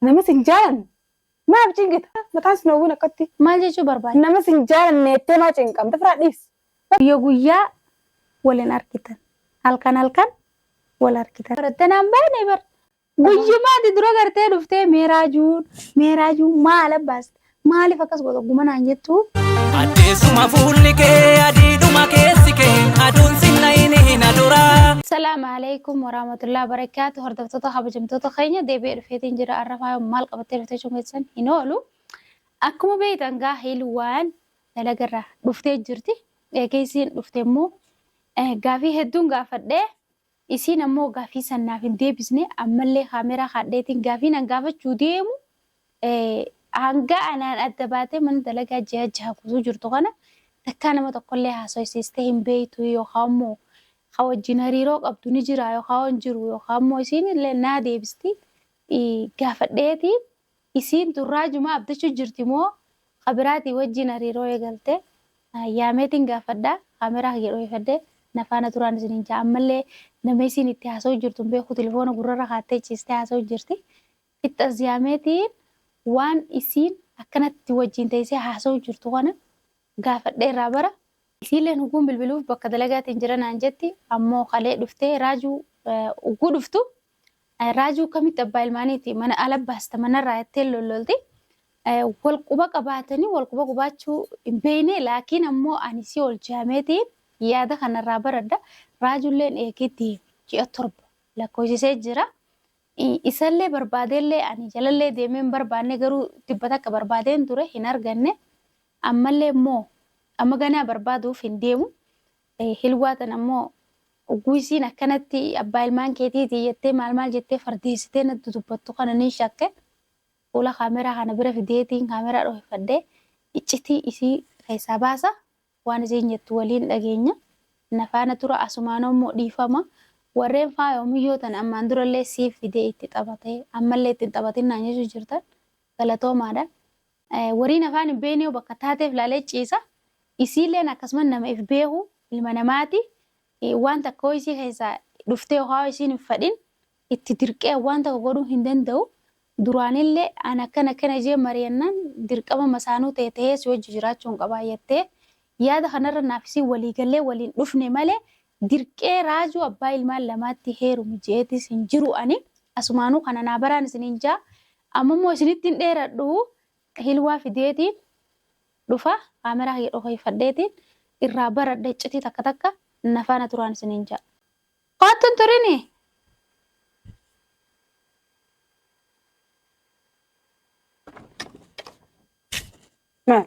Nama sin jaalanne maaf cinqita? Mataan sin hawwiin akkatti. Maal jechuu barbaadda? Nama sin jaalanne jettee maa cinqamta? Firaa dhiis. Guyya guyyaa wal hin argitan. Halkan halkan wal argitan. Barattanaan baane bar. Guyyumaati dura gartee dhuftee mee raajuun mee raajuun maal abbaas Maaliif akkas goota guma naan jettu? Addeessuma fuulli kee adiidhuma keessi kee aduun sinna hin hina duraa. Salaamu alaikum warahmatullahi wabarakatuh. Hordoftoota kabajamtoota keenya deebi'ee dhufeetiin jira. Har'a faaya maal qabattee dhuftee jechuun keessan hin oolu. Akkuma beektan gaa hiilwaan dalagarraa dhuftee jirti. Eegeessiin dhufte immoo gaafii hedduun gaafadhee Isiin ammoo gaafii san naaf hin deebisne ammallee kaameraa kaadheetiin gaafiin an gaafachuu deemu hanga anaan adda baatee mana dalagaa ji'a jaha guutuu jirtu kana takkaa nama tokkollee haasoysiistee hin beeytu yookaa ammoo ka wajjin hariiroo qabdu ni jiraa yookaa hin jiru yookaa ammoo isiin illee naa deebisti gaafadheetiin Isiin tun raajumaa abdachuu jirti moo ka biraatii wajjiin hariiroo eegalte? Yaameetiin gaafadha, kaameraa kiyya dhoyifadhe na faana turaan isiniin ja'a. Ammallee nama isiin itti haasawuu jirtu hin beeku, tilifoona gurrarra kaattee ciistee haasawuu jirti. Fixxas Yaameetiin waan isiin akkanatti wajjiin teessee haasawuu jirtu kana gaafadhee irraa bara. Isiilleen hogguun bilbiluuf bakka dalagaatiin jira naan jetti, ammoo kalee dhuftee raajuu hogguu dhuftu Raajuu akkamitti abbaa ilmaaniiti mana ala baasta manarraa jettee lollolti. Wal quba qabaatanii wal quba qubaachuu hin beekne laakiin ammoo ani si oolchaameeti yaada kanarraa baradha. Raajulleen eegee deeme ji'a torba lakkoofsisee jira. Isallee barbaadeellee ani jalallee deemee hin barbaanne garuu tibba takka barbaadeen ture hin arganne. Ammallee immoo amma ganaa barbaaduuf hin deemu. Hilwaa tana immoo ogguu isiin akkanatti abbaa ilmaan keetiiti jettee maal maal jettee fardeessitee natti dubbattu kana nin shakke fuula kaameraa kana bira fideetiin kaameraa dhohifadhee iccitii isii keessaa baasa waan isiin jettu waliin dhageenya na faana tura asumaanoo immoo dhiifama warreen faayoo miyyoo tana ammaan durallee siif fidee itti taphatee ammallee ittiin taphatin naan jechuu jirtan galatoomaadha Woriin afaan hin beeyneeyu bakka taateef laalee ciisa. Isiilleen akkasuma nama if beeku ilma namaati. Waan takka hoo isii keessaa dhuftee yookaan hoo isiin hin fadhin itti dirqee waan tokko godhuu hin danda'u. Duraanillee an akkana akkana jee mariyannaan dirqama masaanuu ta'e ta'ee si wajji jiraachuun qabaa jattee yaada kanarra naaf isiin walii gallee waliin dhufne malee Dirqee raajuu abbaa ilmaan lamaatti heerumi jeetis hin jiru ani asumaanuu kana naa baraan isiniin jaa amma immoo isinitti hin dheeradhu hilwaa fideetiin dhufa kaameraa kiyya dhokeeffadheetiin irraa baradha iccitii takka takka na faana turaan isiniin jaa. Koottu hin turini. Maal?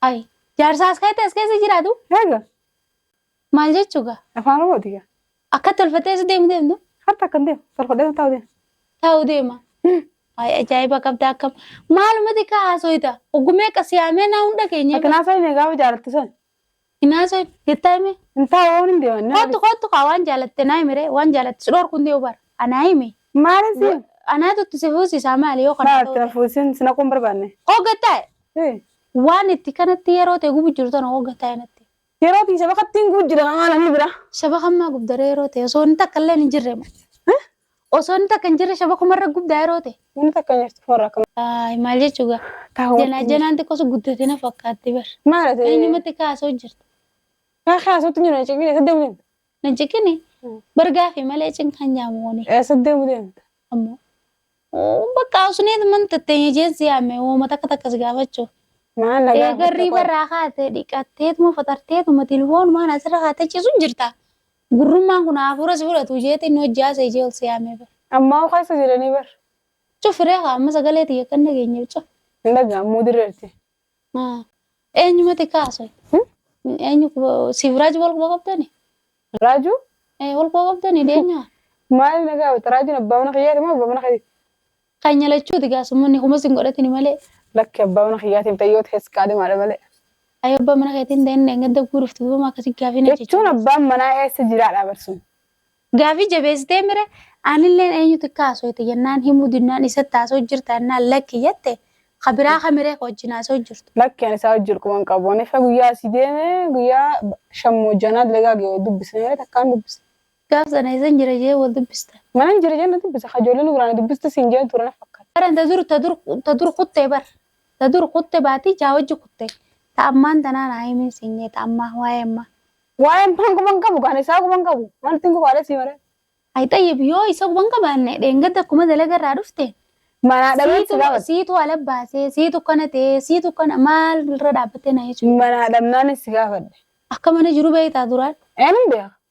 Ay, jaarsaa as kaa'etti as keessa jiraatu? Egaa. Maal jechuu gaa? Afaan Oromooti gaa. Akka tolfattee isa deemu deemtu? Harta akkan deemu. Tolfadhee taa'u deemu. Taa'u deema. Ay, ajaa'iba qabda akkam. Maalumati kaa haasooyta? Ogumee qasiyaamee naa hunda keenya. Ati naa sooyne gaafa jaalattu san. Inaasee jettaa hime. Intaa waan hin deeman. Kottu kottu kaa waan jaalatte naa himire waan jaalatte sidhoor kun dee'u bara. Anaa hime. Maalin si? Anaa tuttu si fuusisaa maali yoo kana Maal ta'u. ta'e fuusin si naquun barbaanne? Hogga taa'e Hee. waan itti kanatti yeroo ta'e gubu jiru tana hogga taa'e natti. Yeroo tii saba kattiin gubu jira maal ani bira? Saba kammaa gubdaree yeroo ta'e osoo inni takka illee hin jirre. Osoo inni takka hin jirre shabakuma irra gubdaa yeroo ta'e. Namni takka hin jirtu warra akkam. Ay, Maal jechuu gaa? Taa'u Janaa wajjin. janaan xiqqoo sun guddate na fakkaatti bar. Maal ati? Eenyumatti kaasoo jirta. Kaa kaasuutti jiru na cinqine saddeemu deemta. Na jiqini Mm. bar gaafii malee cinqaan jaamooni. Eh, Saddeemu deemta. Ammoo. Oo, Bakka usneet man tatteenya jeensi yaame wooma takka takkas gaafachuu. Maal na Eegarrii gaafatte qoy? barraa kaatee dhiqatteetuma faxarteetuma tilfoon maan asirra kaatee ciisuun jirta. Gurrummaan kun hafuura si fudhatu isheetiin hojii haasa ishee ol si yaamee bar. Ammaa hoo keessa jiranii bar. Cufiree kaa amma sagalee tiyya kan dhageenye bicha. Hin dhaga'amuu dirreerti. Eenyumati kaasoi. Eenyu siif raaju wal quba qabdani? Raaju? Wal quba qabdani deenyaa? Maali nagaa wata raajuun abbaa mana kiyyaati moo abbaa mana keeti? Keenya lachuuti gaa summanni humas hin godhatini malee. Lakki abbaa mana kiyyaatiif dayyooti keessi qaadhimaadha malee. Ayoo abbaa mana keetii hin ta'in dheengadda guguu dhufte duuba maa akkasii gaafii na jechuun jechuun. abbaan manaa eessa jiraadha barsuun. Gaafii jabeessitee mire anilleen eenyutu akka haasooyte jennaan himuu dinnaan isatti haasoo jirta jennaan lakki jette ka biraa ka miree ka wajjin haasoo jirtu. Lakki ani isaa wajjin quban qabu. Ani fa guyyaa asii deeme guyyaa shammoo janaa dalagaa ga'e dubbisne malee takkaan dubbisne. Gaaf sana eessan jira jee wal dubbistan? Manan jira jeen na dubbise ka ijoollee nu biraa na dubbistu siin jeen ture na fakkaata. Baran ta dur ta dur ta dur kutte bar ta dur kutte baatii ja'a wajji kutte ta ammaan tanaa naa himin siin jee ta ammaa waa'ee ammaa. Waa'ee ammaan quban qabu kaan isaa quban qabu maaltiin qubaadhee sii maree. Ay xayyib yoo isa quban qabaanne dheengadda akkuma dalaga irraa dhufteen Manaa dhabee si siitu gaafate. siitu ala baasee siitu kana ta'ee siitu kana maal irra dhaabbattee na jechuudha. Manaa dhabnaan si gaafadhe. Akka mana jiru beektaa duraan. Eenyuun beeka?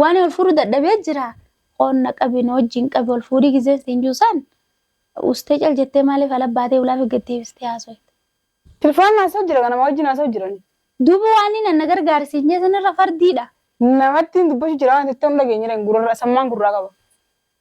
Waan wal fuudhu dadhabee jira. Koon na qabi na wajjin qabi wal fuudhii gizeen siin jiru san ustee cal jettee maaliif ala baatee ulaa fi gaddeebistee haasoyta. Tilfaan haasa'u jira ka nama wajjin haasa'u jiran. Duuba waaniin an na gargaari siin jee sanirra fardiidha. Namattiin dubbachuu jira waan jettu hin dhageenyereen gurarra sammaan gurraa qaba.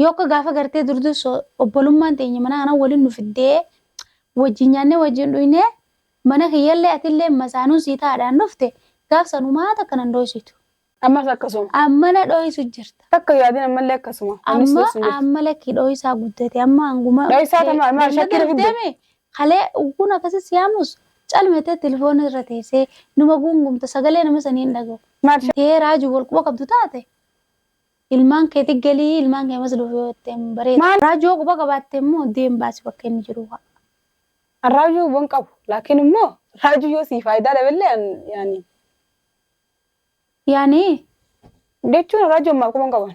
Yoo akka gaafa gartee durduus obbolummaan teenya mana kana waliin nu fiddee wajjin nyaannee wajjin dhugnee mana kiyyallee atillee masaanuun sii taa'adhaan dhufte gaaf sanumaa takka nan dhoysitu. Ammas akkasuma. Amma na dhoysu jirta. Takka yoo adin ammallee akkasuma. Amnis Amma dhoysu jirta. amma lakki dhoysaa guddate amma hanguma. Dhoysaa tama amma Beellada shakkira fidde. deeme kalee kun akkasii siyaamus calmetee telefoona irra teessee numa guungumta sagalee nama sanii hin dhagahu. Maal Tee raajuu wal quba qabdu taate Ilmaan keeti galii ilmaan kee amas dhufu yoo jetteen bareeda. Maal Raaju yoo quba qabaatte immoo deem baasi bakka inni jiru kaa. An Raaju quban qabu laakiin immoo Raaju yoo sii faayidaa dhabeellee an yaani. Yaani? Jechuun Raaju an maal quban qaban.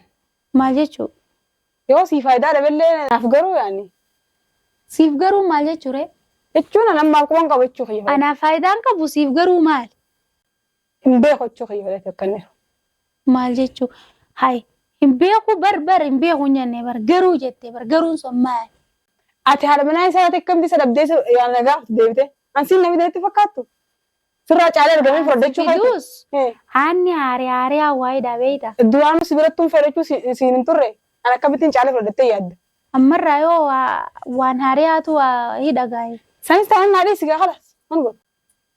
Maal jechuu? Yoo sii faayidaa dhabeellee naaf garuu yaani. Siif garuu maal jechuu ree? Jechuun an an maal quban qaba jechuu kiyya. Anaaf faayidaa hin qabu siif garuu maali? Hin beeku jechuu kiyya malee tokkanneeru. Maal jechuu? Hay hin beeku bar bar hin beeku hin jenne bar garuu jette bar garuun sun maali? Ati haadha manaa isaa irratti akkamti isa dhabdee isa yaana na gaafatu deebite. An siin namni natti fakkaattu. Sirraa caalee argamee furdachuu keetti. Fiduus haanni haaree haaree hawaayiidha beeyta. Duraanuu si birattuun furdachuu siin hin turre. An akkamittiin caalee furdattee yaadda. Ammarraa yoo waan haaree haatu hidha gaa'e. Sanis taanaan naa dhiisi gaa kalas. An godhu.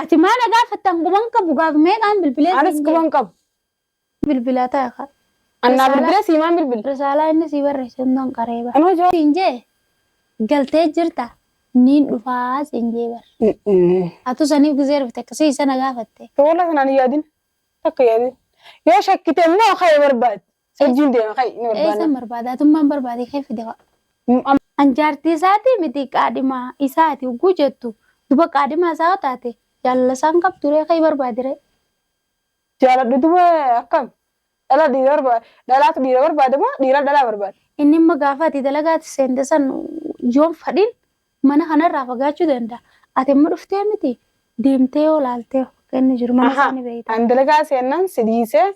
Ati maa na gaafatta an quban qabu gaaf meeqaan bilbilee Anis siin quban qabu. jee bilbilaa ta'a ka. An naa Risaalaa- bilbila siimaan bilbila. Risaalaa inni sii barreesse hundan qaree bar. Anoo jaa. Siin jee galtee jirta niin dhufaa siin jee bar. Atu saniif gizee rifte akkasii isa na gaafatte. Toola sanaan yaadin. Takka yaadin. Yoo shakkite immoo ka'ee barbaadi. Sajjuun deema kai ni barbaanna. Eessan barbaadaa tummaan barbaadee kee fide waa. Amma An jaartii isaati miti qaadhimaa isaati ugguu jettu duba qaadhimaa isaa yoo taate jaalala isaan qabduree kee barbaadire. jaaladhu duba akkam dhala dhiira barbaada dhalaatu dhiira barbaada moo dhiira dhalaa barbaada. Inni immoo gaafa ati dalagaatti seente san yoon fadhin Mana kana irraa fagaachuu danda'a. Ati amma dhuftee miti deemtee yoo laaltee akka inni jiru mana isaa ni beekta. Ani dalagaa seennan si dhiisee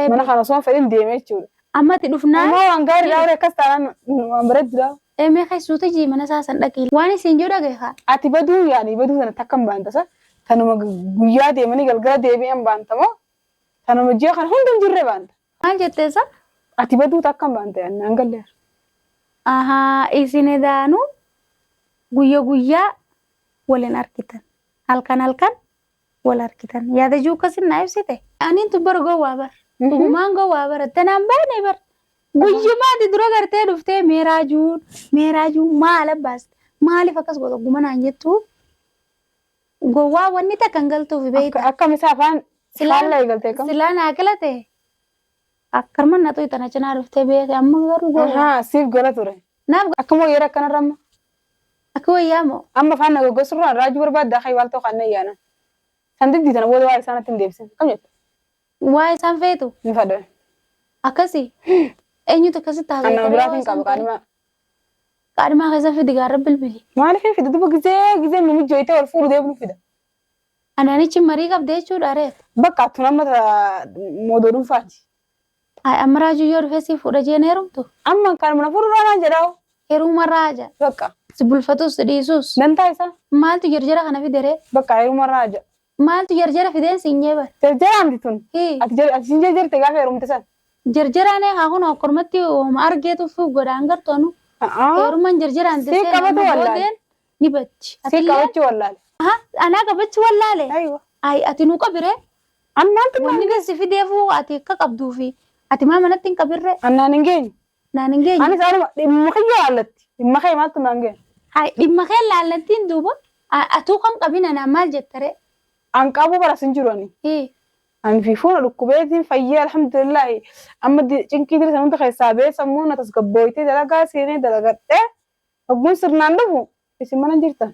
mana kana osoo hin fedhin deeme jechuudha. Amma ati dhufnaan. Amma waan gaarii dhaa warri akkas taanaan waan bareeddu dhaa. Emee keessuutu jii mana isaa san dhaqii. Waan isin jiru dhagahe kaa. Ati baduu yaani baduu sana takka hin baanta sa tanuma guyyaa deemanii galgala deebi'an baanta moo tanuma ji'a kana hunda hin jirre baanta. Maal jettee isaa? Ati baduuta akkam baante annaan galleera. Ahaa isin edaanu guyya guyyaa waliin argitan. Halkan halkan wal argitan. Yaada jiru akkasin naa ibsite. Aniin tun bara gowwaa bar. Dhugumaan gowwaa bar. Danaan baane bar. Guyyumaa ati dura gartee dhuftee meeraa juun meeraa juun maal abbaas maaliif akkas goota gumanaan jettuu Gowwaa wanni takka hin galtuufi Akka- beeyta. akkam isa afaan Silaan- faallaa eegalte kam Silaa naa kilate. Akkarma na tuyta na cinaa dhuftee beeyte amma garuu gowwaa. Ahaa, siif gala ture Naaf ga- akkam wayyeera akkanarra amma akka wayyaa moo. amma afaan na goggosurraa raajuu barbaadda akka iwaaltoo kan na yaana san diddi tana booda waa isaanatti hin deebisin kam jette Waa isaan feetu. ni fadha Akkasi. Eenyutu akkasitti haasa'e? anna biraatiin qaba qaadima Qaadhimaa keessa fidi gaarra bilbili. Maaliif hin fida? Duba gizee gizee nu mijjooytee wal fuudhu deemnu fida. Anaanichi marii qabda jechuudha reet. Bakka attu nama moodoo dhuunfaati. Ay amma raajuu yoo dhufee si fuudha jeen heerumtu. Amma kanuma na fuudhu raanaan jedhaa. Heeruma raaja. Bakka. Si bulfatus si dhiisus. Dantaa isaa. Maaltu jarjara kana fideree? Bakka heeruma raaja. Maaltu jarjara fideen siin jee bar. Jarjaraa miti tun. Hii. Ati jar- ati siin jarjarte gaafa heerumte san. Jarjaraan eegaa kun akkormatti ooma argee tuffuu godhaan gartoonu. A'aa. Heeruman jarjaraan Sii tessee qabatu nama wallaale. boodeen ni batti. Sii Atillee qabachuu wallaale. aha anaa qabachuu wallaale. Aywa. Ayi ati nu qabiree. An maaltu Wanni naan geessi fideefuu ati akka qabduufi ati maa manatti hin qabirree. An naan hin geenye. Naan hin geenye. Anis anuma dhimma kiyya laallatti. Dhimma kee maaltu naan ga'e? Hay dhimma kee laallattiin duuba a- atuu kan qabin anaan maal jettaree? An qabuu bara sin jiru ani. Hii. Ani fi fuuna dhukkubeetiin fayyee alhamdulillaahi. Amma di- cinqii diri san hunda keessaa ba'ee sammuu na tasgabbooytee dalagaa seenee dalagadhee hogguun sirnaan dhufu isin mana hin jirtan.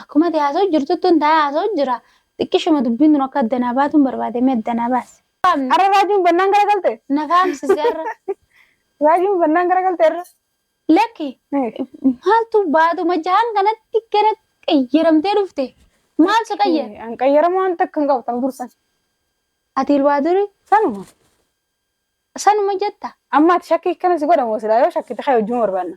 Akkuma ati haasa'u jirtuttun taa'ee haasa'u jira. Xiqqishuma dubbiin tun akka adda naa baatuun barbaade mee adda naa baasi. Arra raajuun bannaan gara galte? Na faamsisi arra. Raajuun bannaan gara galte arra? Lakki maaltu baatuma jahan kanatti gara qayyaramtee dhufte. Maal si qayyara? An qayyarama waan takka hin qabatan dursan. Ati ilwaa duri Sanuma. sanuma jetta. Amma ati shakkii akkana si godhamu silaa yoo shakkite kee wajjin barbaanna.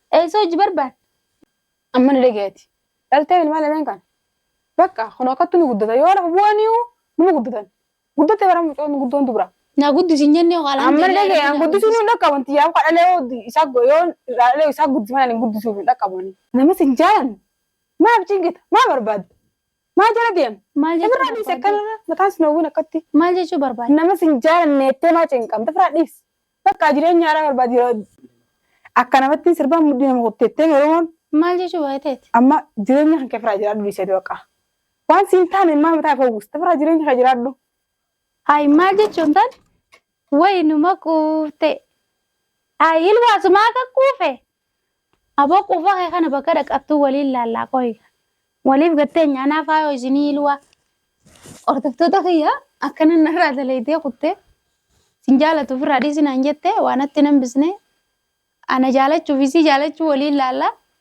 Eessa hojii barbaadda? Amma ni dhageeti. Dhaltee ilmaan lameen kana. Bakka kun akkattu ni guddata. Yoo lafa bu'aniiyu numa guddatan. Guddatte bara mucoon guddoon dubra. Naa guddisi hin jennee hoo Amma ni dhagee an guddisuun hin dhaqqabu wanti yaa'u kan dhalee yoo isaa go- yoo irraa dhalee isaa guddisan ani guddisuuf hin dhaqqabu ani. Namas hin jaalanne. Maaf cingita? Maa barbaadda? Maa jala deema? Maal jechuu Ofirraa dhiise barbaadda? akkanarra mataan sin hawwiin akkatti. Maal jechuu barbaadda? Namas hin jaalanne jettee maa cinqamta? Ofirraa dhiise. Bakka jireenya haaraa barbaadi. Akka namattiin sirbaan mudhii nama kutteettee Oromoon Maal jechuu baay'eeteeti? amma jireenya kan kee firaa jiraadhu dhiiseeti baqa. Waan siin taane maal mataa kee uwwista firaa jireenya kee jiraadhu. Hayi maal jechuun tan wayi numa quufte. Hayi ilwaasumaa akka quufe Aboo quufa kee kana bakka dhaqattuu waliin laallaa koo egaa. Waliif gattee nyaanaa faayoo isinii ilwaa. Hordoftoota kiyya akkana narraa daleeydee kuttee sin jaalatu ofirraa dhiisi naan jette waa natti hin hambisne ana jaalachuuf isii jaalachuu waliin laallaa.